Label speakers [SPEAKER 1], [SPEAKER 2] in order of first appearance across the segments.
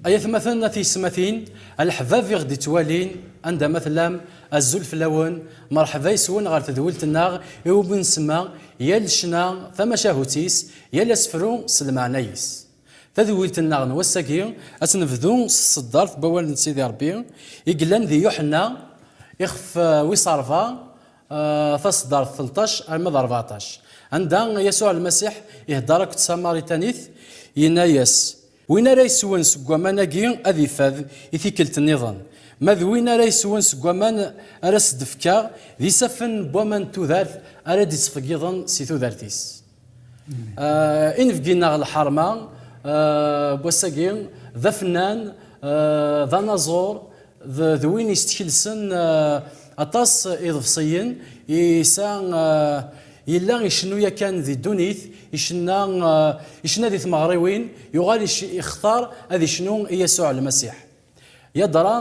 [SPEAKER 1] Ay atmaten a tiyesmatin, a leḥbab i ɣ-d-ittwalin, anda ma tellam, azul fell-awen, merḥba yes-wen ɣer tedwilt-nneɣ i wumi nsemma yal ccna tamacahut-is, yal asefru s lmeɛna-is. Tadwilt-nneɣ n wass-agi ad tt-nebdu s tseddart n wawal n Sidi Rebbi i yellan di Yuḥenna ixef wis ṛebɛa, taseddart telṭac arma d ṛebɛṭac, anda Yasuɛ Lmasiḥ iheddeṛ akked Tamaritanit, yenna-yas, Win ara yeswen seg waman-agi ad ifad i tikkelt nniḍen. Ma d win ara yeswen seg waman ara s-d-fkeɣ, d isaffen n waman n tudert ara d-ittqeyyiḍen si tudert-is. Inebgi neɣ lḥerma n wass-agi d afennan, d anaẓur, d win yestekelsen aṭas iḍebsiyen, yesa yella icennu yakan di ddunit, icenna icenna di tmeɣriwin, yuɣal ixtar ad icnu i Yasuɛ Lmasiḥ. Yadra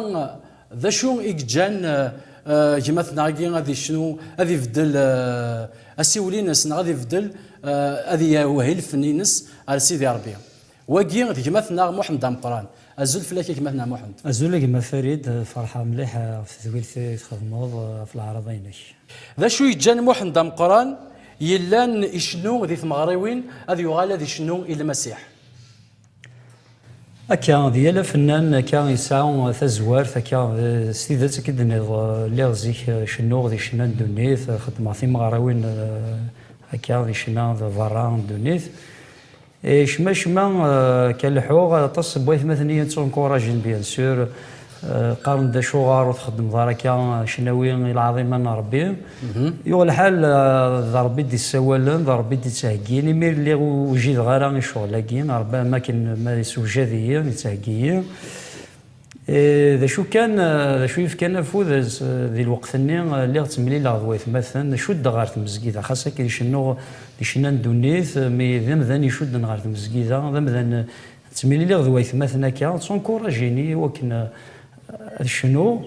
[SPEAKER 1] d acu i yeǧǧan gma-tneɣ-agi ad icnu, ad ibeddel asiwel-ines neɣ ad ibeddel ad iwehhi lfen-ines ar Sidi Rebbi? Wagi d gma-tneɣ Muḥend Ameqqran. Azul fell-ak a gma-tneɣ Muḥend. Azul a gma Farid,
[SPEAKER 2] ferḥeɣ mliḥ ɣef tedwilt i txedmeḍ ɣef leɛraḍa-inek. D acu
[SPEAKER 1] yeǧǧan Muḥend Ameqqran yellan icennu di tmeɣriwin ad yuɣal ad icennu i Lmasiḥ?
[SPEAKER 2] Akka, d yal afennan akka yesɛa tazwart akka, s tidet akka i d-tenniḍ, lliɣ zik cennuɣ di ccna n ddunit, xeddmeɣ timeɣriwin akka di ccna d berra n ddunit, Et cmacma kan leḥḥuɣ aṭas n waytmaten i yi-ttunkurajen bien sûr, qqaren-d acuɣer ur txeddmeḍ ara akka, cnawi i lɛaḍima n Rebbi. Yuɣ lḥal d Rebbi i d-issawalen, d Rebbi i d-ittheggin, imi lliɣ ur wjideɣ ara i ccɣel-agi, Rebbi am wakken ma yessewjad-iyi, yettheggi-yi. Eh, d acu kan, eh, d acu yefkan afud eh, di lweqt-nni, lliɣ ttemlileɣ d waytmaten, cuddeɣ ɣer tmezgida, xas akken cennuɣ di cenna n ddunit, mi d amdan icudden ɣer tmezgida, d amdan ttemliliɣ d waytmaten akka, d tunkuraǧin i wakken ad cennuɣ.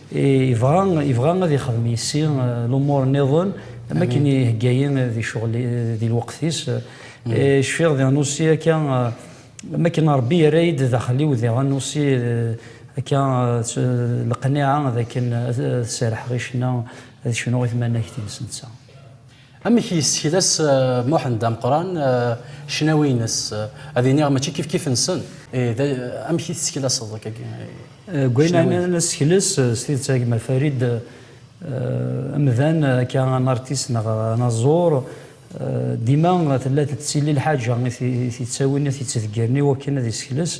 [SPEAKER 2] Yebɣa, yebɣa ad ixdem yessi lumuṛ nniḍen am akken ihegga-yi di ccɣel, di lweqt-is. Cfiɣ di Anussi akka, am akken Ṛebbi yerra-yi-d daxel-iw di Anussi akka leqniɛa d akken ad serḥeɣ i ccna, ad cnuɣ i tmanagt-is netta. Amek
[SPEAKER 1] i yessekles Muḥend Ameqqran ccnawi-ines? Ad iniɣ mačči kifkif-nsen. Ih, amek i tesseklaseḍ akkagi ccnawi-ines? Deg wayen
[SPEAKER 2] nessekles, s tidet a gma Farid, amdan akka un artiste neɣ anaẓur, dima tella tettili lḥaǧa i t-yettawin, i t-yettdeggren i wakken ad yessekles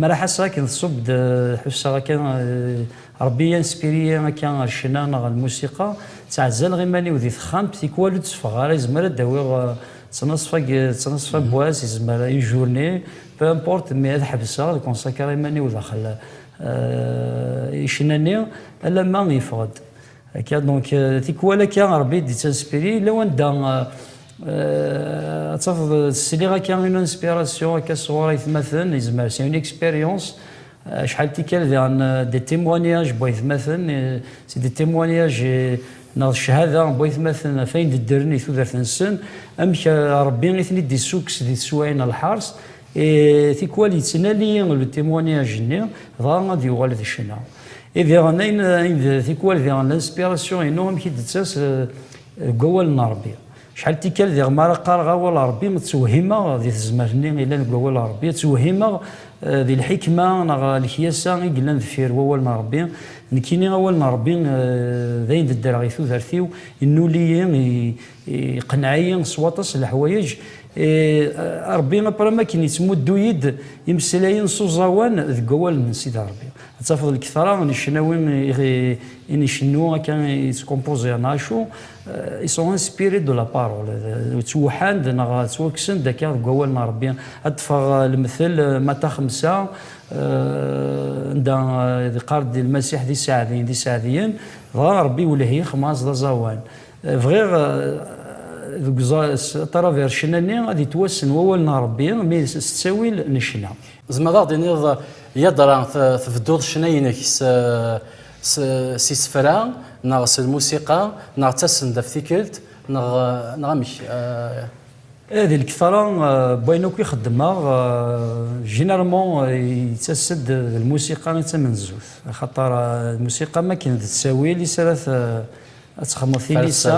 [SPEAKER 2] Maraḥ ass akken tṣubb-d, ḥusseɣ akka Rebbi inspire-iyi akka ɣer ccna neɣ ɣer lmusiqa. Ttɛezzaleɣ iman-iw di texxamt, tikwal ur d-tteffɣeɣ ara, izmer ad d-awiɣ ttnaṣfa ttnaṣfa n wass, izmer une journée, peu importe, mais ad ḥebseɣ, ad consacrer iman-iw daxel i ccna-nni, alamma yeffeɣ-d. Akka, donc, euh, tikwal akka Rebbi d-ittanspiri, yella wanda euh, ad tafeḍ sliɣ akka une inspiration akka sɣur aytmaten, yezmer c'est une expérience, acḥal euh, tikkal daɣen des témoignages n waytmaten, c'est des témoignages neɣ ccahada n waytmaten ɣef ayen d-ddren i tudert-nsen, amek Rebbi i ten-id-issukkes di teswayin n lḥers, Et tikwal yettnali le témoignage-nni, dɣa ad yuɣal d ccna. Et diɣen ayen ayen d tikwal diɣen l'inspiration-inu amek i d-tettas deg wawal n Rebbi. Acḥal tikkal diɣen mi ara qqareɣ awal n Rebbi ttewhimeɣ di tezmert-nni yellan deg wawal n Rebbi, ttewhimeɣ di lḥikma neɣ lekyasa i yellan deffir wawal n Rebbi. Nekkini awal n Rebbi d ayen d-ddreɣ i tudert-iw, yennuli-yi, Iqenneɛ-iyi s waṭas leḥwayeǧ. Ṛebbi apṛam akken yeţmuddu-yi-d imeslayen s uẓawan deg wawal n Sidi Ṛebbi. Ad tafeḍ lketṛa n ccnawi i ncennu akka yeţkompuẓiren acu, ils sont inspirés de la parole, ţwuḥan-d neɣ ţwakksen-d akka deg wawal n Ṛebbi. Ad ṭṭfeɣ lemtel Mata xemsa anda yeqqar-d Lmasiḥ d iseɛdiyen d iseɛdiyen, dɣa Ṛebbi iwelleh-iyi xemɛas d aẓawan. Bɣiɣ deg taravercna-nni ad yettwassen wawal n Rebbi mi s ttawil necna. Tzemreḍ ad aɣ-d-tiniḍ
[SPEAKER 1] yadra tbedduḍ ccna-inek s isefra neɣ s lmusiqa neɣ d tasendaft tikkelt neɣ amek?
[SPEAKER 2] Ih, di lketṛa n wayen akk i xeddmeɣ, généralement yettas-d d lmusiqa i d tamenzut, axaṭer lmusiqa am wakken d ttawil i s ara ad texmeḍ tilisa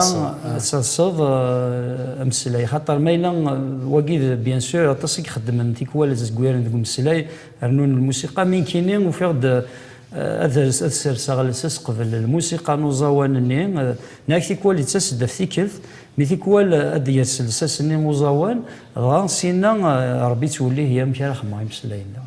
[SPEAKER 2] ad talseḍ eh, ameslay xaṭer ma yella eh, wagi bien sûr aṭas i ixeddmen tikwal zegwiren deg umeslay rnun lmusiqa mi nkini ufiɣ-d eh, ad serseɣ lsas qbel lmusiqa n uẓawan-nni neɣ tikwal yettas-d af tikkelt mi tikwal ad d-yers lsas-nni uẓawan dɣa sinna rebbi ttwellih yamek ara xedmeɣ imeslayen-nneɣ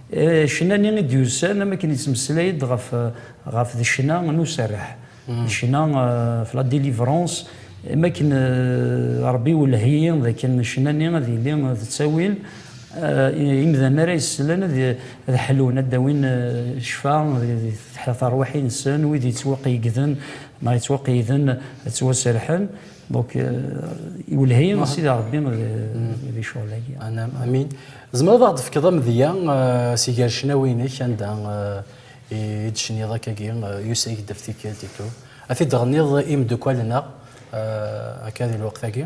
[SPEAKER 2] Ccna-nni i d-yusan am akken yettmeslay-d ɣef, ɣef d ccna n userreḥ, d ccna ɣef la délivrance, am akken Rebbi iwelleh-iyi d akken ccna-nni ad yili d ttawil, imdanen ara yesslen ad, ad ḥlun, ad d-awin ccfa di terwiḥin-nsen, wid yettwaqeyyegden neɣ yettwaqeyyden ad ttwaserrḥen. Donc, iwelleh-iyi Sidi Rebbi di ccɣel-agi. Anam, amin.
[SPEAKER 1] Tzemreḍ ad d-fkeḍ amedya si gar ccnawi-inek anda i d-tecniḍ akkagi Yusa-yi-d ɣef tikkelt itu, ad t-id-tɣenniḍ i imeddukkal-nneɣ akka di lweqt-agi?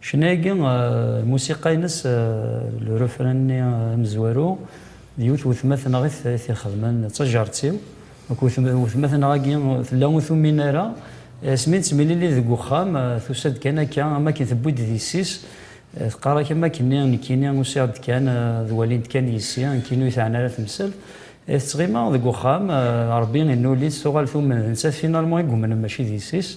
[SPEAKER 2] Ccna-agi, lmusiqa-ines, le refrain-nni amezwaru, d yiwet n wetma-t neɣ i t-ixedmen, d tajerrt-iw. Akked wetma-t neɣ agi tella ur tumin ara, asmi nettemlili deg uxxam, tusa-d kan akka, am akken tewwi-d d yessi-s, teqqar-ak am akken-nni, nekkini usiɣ-d kan, ad walint kan yessi, nekkini ur yi-teɛni ara temsalt. I tettɣima deg uxxam, Rebbi inuli-tt, tuɣal tumen d nettat finalement i yumnen mačči d yessi-s.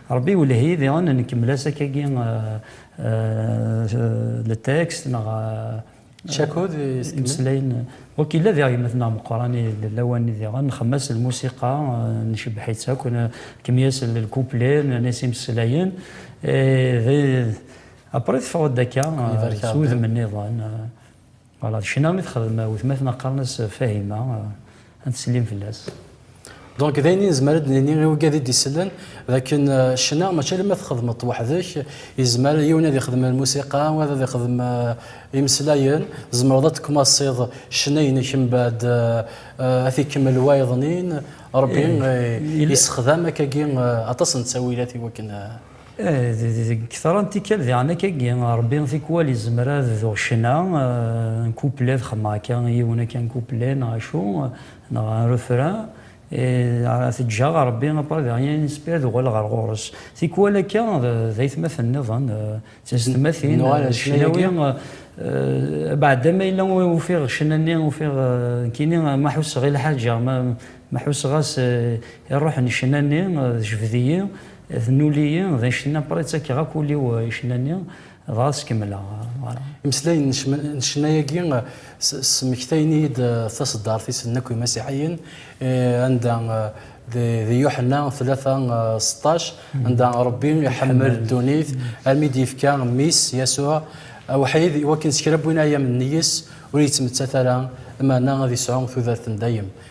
[SPEAKER 2] Rebbi iwelleh-iyi diɣen nkemmel-as akkagi letekst neɣ
[SPEAKER 1] Cakud imeslayen.
[SPEAKER 2] Ok, yella diɣ gma-tneɣ meqqran i lawan-nni diɣen, nxemmem-as lmusiqa, ncebbeḥ-itt akk, nkem-yas lkupli, nerna-yas imeslayen, et après teffeɣ-d akka s wudem-nniḍen. Voilà, d ccna i texdem wetma-tneɣ qqaren-as Fahima, ad ttsellim fell-as. Donc d
[SPEAKER 1] ayen i nezmer ad d-nini i ugad i d-isellen, d akken ccna mačči alamma txedmeḍ-t weḥd-k, yezmer yiwen ad ixdem lmusiqa, wayeḍ ad ixdem imeslayen, tzemreḍ ad d-teckumaṣiḍ ccna-inek mbeɛd ad t-ikemmel wayeḍnin, Ṛebbi yessexdam akkagi aṭas n ttawilat i wakken. Deg
[SPEAKER 2] kra n tikkal diɣen akka-agi, Rebbi tikwal izmer ad d-tuɣ ccna n couplet, ad xedmeɣ akka yiwen akka n couplet neɣ acu, neɣ un refrain, et teǧǧaɣ Rebbi après de rien inspiré ad uɣaleɣ ɣer ɣur-s. Tikwal akka d aytmaten nniḍen, d teztmatin, ccnawi, abeɛda ma yella ufiɣ ccna-nni, ufiɣ nekkini ma ḥusseɣ i lḥaǧa, ma ḥusseɣ-as i ṛṛuḥ n ccna-nni, tejbed-iyi. D nuli-yi, d icenna, pray ttakeɣ akk ul-iw i icenna-nni, dɣa ad s-kemmleɣ. Voilà. Imeslayen n
[SPEAKER 1] cma- n ccna-agi s- smektayen-iyi-d taseddart-is n Akk Imasiḥiyen, eh, anda di di Yuḥenna tlata seṭṭac, anda Rebbi iḥemmel ddunit armi i d-yefka Mmi-s, Yasuɛ, awḥid, i wakken s kra n win ay am-nni-is ur yettmettat ara, meɛna ad yesɛu tudert n dayem.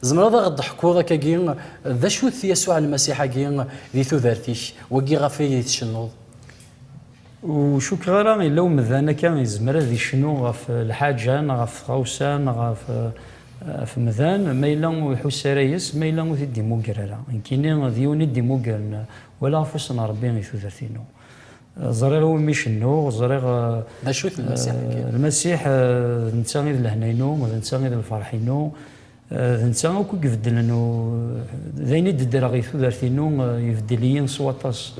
[SPEAKER 1] Tzemreḍ a ɣ-d-teḥkuḍ akkagi d acu-t Yasuɛ Lmasiḥ-agi di tudert-ik, wagi ɣef ay d-tcennuḍ?
[SPEAKER 2] Ur cukkeɣ ara yella umdan akka yezmer ad yecnu ɣef lḥaǧa neɣ ɣef tɣawsa neɣ ɣef umdan ma yella ur iḥuss ara yes-s, ma yella ur t-id-imugger ara. Nekkini d yiwen i d-imuggren wala ɣef wass n Rebbi i tudert-inu. Ẓriɣ i wumi cennuɣ, ẓriɣ... D acu-t
[SPEAKER 1] Lmasiḥ-agi? Lmasiḥ
[SPEAKER 2] d netta i d lehna-inu, d netta i d lferḥ-inu, d netta akk i ibeddlen, d ayen i d-ddreɣ i tudert-inu, ibeddel-iyi s waṭas.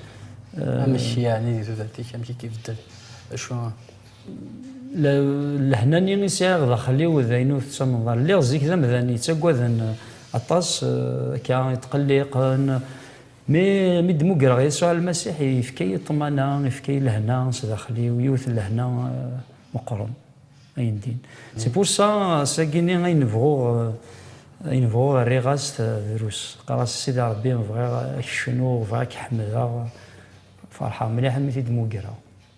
[SPEAKER 2] Amek
[SPEAKER 1] yeɛni di tudert-ik, amek i k-ibeddel? Acu?
[SPEAKER 2] Lehna-nni i sɛiɣ daxel-iw d ayen ur tettamneḍ ara. Lliɣ zik d amdan yettaggaden aṭas, akka, yetqelliqen. Mi mi d-mugreɣ Yasuɛ Lmasiḥ, yefka-yi ṭṭmana, yefka-yi lehna s daxel-iw, yiwet n lehna meqqren, ayendin. C'est pour ça, s agini ayen bɣuɣ, ayen bɣuɣ rriɣ-as drus. Qqareɣ-as, Sidi Rebbi, bɣiɣ ad k-cnuɣ, bɣiɣ ad k-ḥemdeɣ. Ferḥeɣ mliḥ mi t-id-mugreɣ.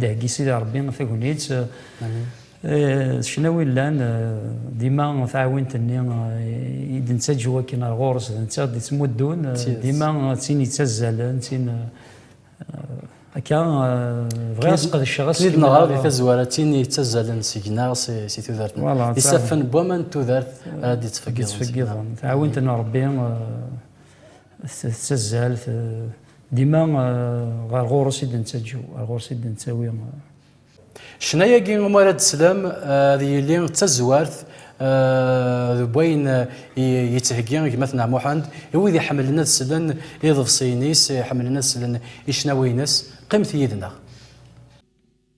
[SPEAKER 2] Dehgi Sidi Rebbi tagnit ccnawi llan dima taɛwint-nni i d-nettaǧu akken ar ɣur-s d netta d-ittmuddun dima d tin yettazzalen d tin akka bɣiɣ ad sqedceɣ aseklu Nid neɣra di tazwara
[SPEAKER 1] d tin yettazzalen seg-neɣ si tudert d isaffen n waman n tudert ara d-ittfeggiḍen
[SPEAKER 2] taɛwint n Rebbi Tettazzal dima ɣer ɣur-s i d-nettaǧǧew, ɣer ɣur-s i d-nettawi.
[SPEAKER 1] Ccna-agi umi ara d-teslam ad yili d tazwart deg wayen yettheggi gma-tneɣ Muḥend i wid iḥemmlen ad slen iḍebsiyen-is, iḥemmlen ad slen i ccnawi-ines. Qqimet yid-neɣ.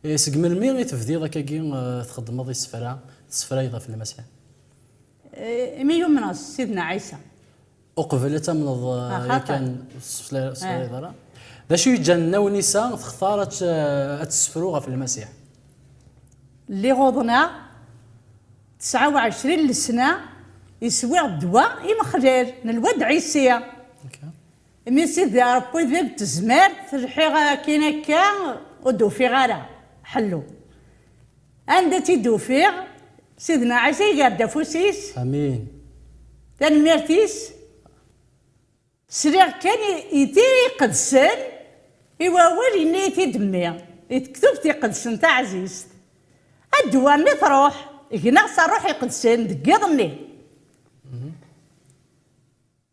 [SPEAKER 3] Seg
[SPEAKER 1] melmi i tebdiḍ akkagi txeddmeḍ isefra, tessefrayeḍ ɣef Lmasiḥ?
[SPEAKER 3] Imi yumneɣ s Sidna Ɛisa. Uqbel ad
[SPEAKER 1] tamneḍ yakan
[SPEAKER 3] ur
[SPEAKER 1] tessefrayeḍ ara? D acu yeǧǧan Nna Wnisa textar ad tessefru ɣef Lmasiḥ?
[SPEAKER 3] Lliɣ uḍneɣ tesɛa u ɛecrin lesna, iswiɣ ddwa imexlal n lwad Ɛisi. Imi Sidi Arebbi d Ibtezmert, lḥiɣ akkin akka ur d-ufiɣ ara ḥellu. Anda tt-id-ufiɣ, Sidna Ɛisa iger-d afus-is. Amin.
[SPEAKER 1] Tanemmirt-is,
[SPEAKER 3] sliɣ kan i Tira Iqedsen, i wawal yenna-yi-t-id Mmi, di Tektubt Iqedsen taɛzizt, A ddwa mi truḥ, gneɣ s Ṛṛuḥ Iqedsen deg yiḍ-nni.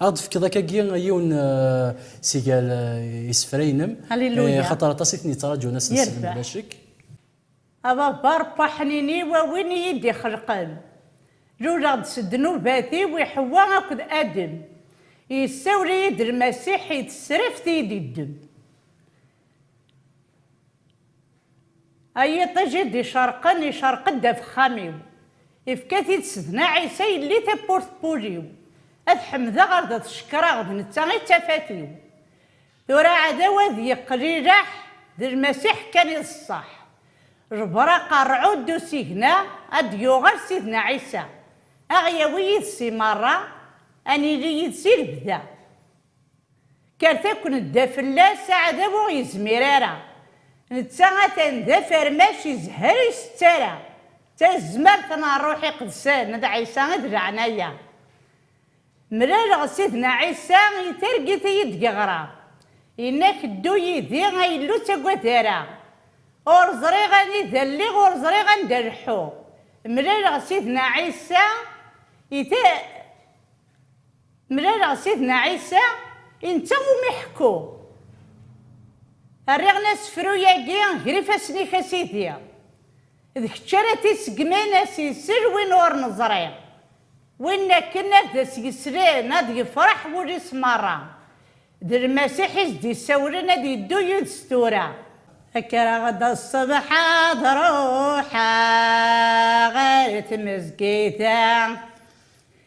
[SPEAKER 3] Ad aɣ-d-tefkeḍ akkagi
[SPEAKER 1] yiwen si gar isefra-inem, axaṭer
[SPEAKER 3] aṭas i ten-yettraǧun
[SPEAKER 1] ass n ssebt bla ccek. A
[SPEAKER 3] Baba Ṛebbi aḥnini-w, a win i yi-d-ixelqen, luleɣ-d s ddnubat-iw i Ḥewwa akked Adem, yessawel-iyi-d Lmasiḥ i tesraft i yi-d-yeddem. A yiṭij i d-icerqen, icerq-d afexxam-iw. Ifka-t-id Sedna Ɛisa yelli tawwurt n wul-iw. A t-ḥemdeɣ, ad t-cekkreɣ, d netta i d tafat-iw. Tura aɛdaw ad yeqqel ileḥḥ, d Lmasiḥ kan i d ṣṣeḥ. Jber aqerɛu n usigna, a d-yuɣal Sidna Ɛisa. A ɣ-yawi yid-s i meṛṛa, a nili yid-s i lebda. Kkret akk nedda fell-as, aɛdaw ur ɣ-yezmir ara. Netta atan d afermac izehher ur isett ara. D tazmert n Ṛṛuḥ Iqedsen d Ɛisa i d leɛnaya. Mlaleɣ Sidna Ɛisa i targit i yi-d-yeɣra, yenna-ak ddu yid-i a Illu ur ttagad ara. Ur ẓriɣ anida lliɣ ur ẓriɣ anda leḥḥuɣ. Mlaleɣ Sidna Ɛisa i. Mlaleɣ Sidna Ɛisa, i netta umi ḥekkuɣ. Rriɣ-n asefru-agi ger ifassen-ik a Sidi. D kečč ara t-iseggmen ad s-isel win ur neẓri. Win akken ad as-yeslen ad yefreḥ wul-is merra. D Lmasiḥ i s-d-isawlen ad yeddu yid-s tura. Kkreɣ-d ṣṣbeḥ ad ruḥeɣ ɣer tmezgida.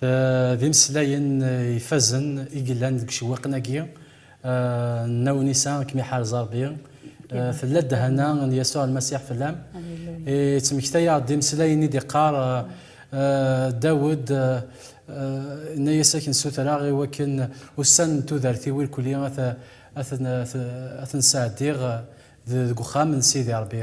[SPEAKER 1] D imeslayen ifazen i yellan deg ucewwiqen-agi n Naw Nisa, ad kem-iḥarez Ṛebbi. Tella ddehana n Yasuɛ Lmasiḥ fell-am. Ittmekta-aɣ-d imeslayen i d-iqqar Dawed, Inna-yas, Ad k-nessutreɣ i wakken ussan n tudert-iw irkeli ad ten-sɛeddiɣ deg uxxam n Sidi Ṛebbi.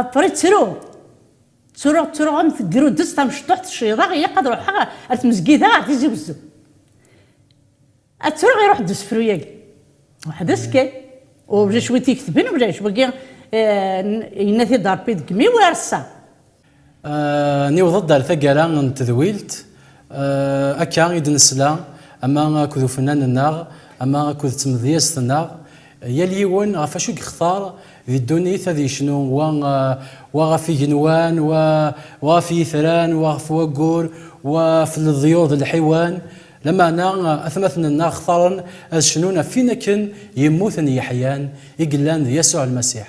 [SPEAKER 3] Aṭri ttru. Ttruɣ ttruɣ am tegrudest tamecṭuḥt cciḍeɣ ilaq ad ruḥeɣ ar tmezgida ar Tizi Wezzu. Ad ttruɣ iruḥ-d usefru-yagi. Weḥd-s kan. Ulac win t-iketben ulac. Wagi yenna-t-id Rebbi deg imi-w ar ass-a.
[SPEAKER 1] Niweḍ-d ar taggara n tedwilt, akka i d-nesla ama akked ufennan-nneɣ ama akked tmedyazt-nneɣ, yal yiwen ɣef acu i yextar di ddunit ad yecnu, wa wa ɣef igenwan, wa wa ɣef yitran, wa ɣef waggur, wa ɣef leḍyur d lḥiwan, lameɛna atmaten-nneɣ xtaren ad cnun ɣef win akken yemmuten yeḥyan, i yellan d Yasuɛ Lmasiḥ.